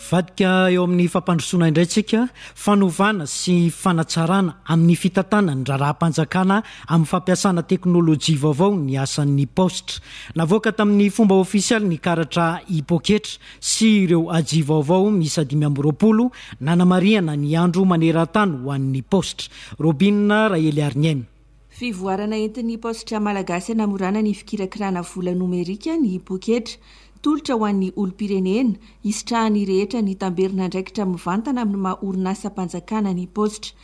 Vadika eo amin'ny fampandrosoana indray tsika fanovana sy fanatsarana amin'ny fitantanana ny raharaham-panjakana amin'ny fampiasana teknolojia vaovao ny asan'ny paositra. Navoaka tamin'ny fomba ofisialy ny karatra hipoketra sy ireo aji vaovao miisa dimy amby roapolo nanamarihana ny andro maneran-tany ho an'ny paositra. Robina Raheliariniaina. Fivoarana entin'ny paositra malagasy hanamorana ny fikirakirana vola nomerika ny poketra. Tolotra ho an'ny olom-pirenena, hisitrahan'ny rehetra ny tamberin'andraikitra mivantana amin'ny maha orinasam-panjakana ny paositra.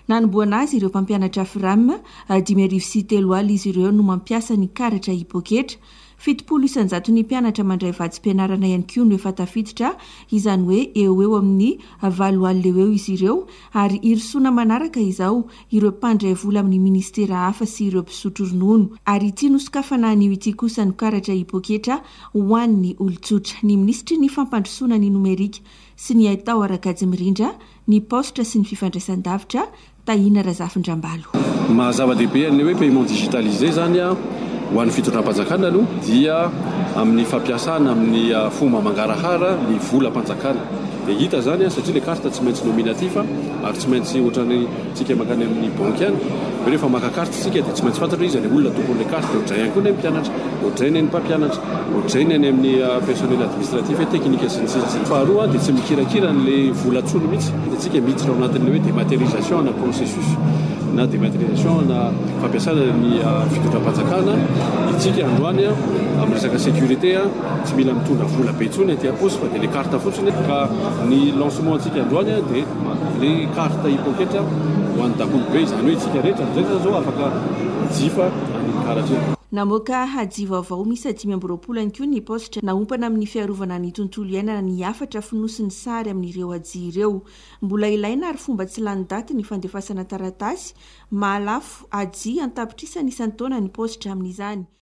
Nanombohana azy ireo mpampianatra Fram, dimy arivo sy telo alina izy ireo no mampiasa ny karatra e-poketra. Fitopolo isan-jaton'ny mpianatra mandray vatsim-pianarana ihany koa no efa tafiditra, izany hoe eo ho eo amin'ny valo alina eo eo izy ireo, ary hirosoana manaraka izao ireo mpandray vola amin'ny ministera hafa sy ireo mpisotro ronono. Ary ity nosokafana anio ity kosa no karatra hipoketra ho an'ny olon-tsotra. Ny minisitry ny Fampandrosoana ny nomerika sy ny haitao Rakajimirindra, ny paositra sy ny fifandraisan-davitra, Tahina Razafindrambalo. Ny maha zava-dehibe an'ilay hoe paiement digitalisé izany ho an'ny fitondram-panjakana aloha dia amin'ny fampiasana amin'ny fomba mangarahara ny volam-panjakana. Dia hita izany satria ilay carte tsy maintsy nominatif ary tsy maintsy ohatran'ny tsika mankany amin'ny banky any hoe rehefa maka carte isika dia tsy maintsy fantatro hoe iza ilay olona tompon'ilay carte dia ohatr'izay ihany koa ny an'ny mpianatra, ohatr'izay ny an'ny mpampianatra. Ohatr'izay ny any amin'ny personnel administratif hoe teknika sy ny sisa sy ny. Faharoa dia tsy mikirakira an'ilay vola intsony mihitsy dia tsika miditra ao anatin'ilay hoe dématérialisation ana processus na dématérialisation ana fampiasana ny fitondram-panjakana itsika androany amin'ny resaka sécurité tsy mila mitondra vola be intsony aty am-paosy fa dia ilay carte fotsiny ka ny lancement antsika androany dia ilay carte hipoketra ho an'ny dakolobe izany hoe itsika rehetra rehetra izao afaka mijifa an'iny karatra iny. Namoaka hadiva. Vao miisa dimy amby roapolo ihany koa ny paositra naompana amin'ny fiarovana ny tontolo iainana ny hafatra fonosin'ny sary amin'ireo hajia ireo. Mbola ilaina ary fomba tsy lany daty ny fandefasana taratasy mahalafo hajia an-tapitrisany isan-taona ny paositra amin'izany.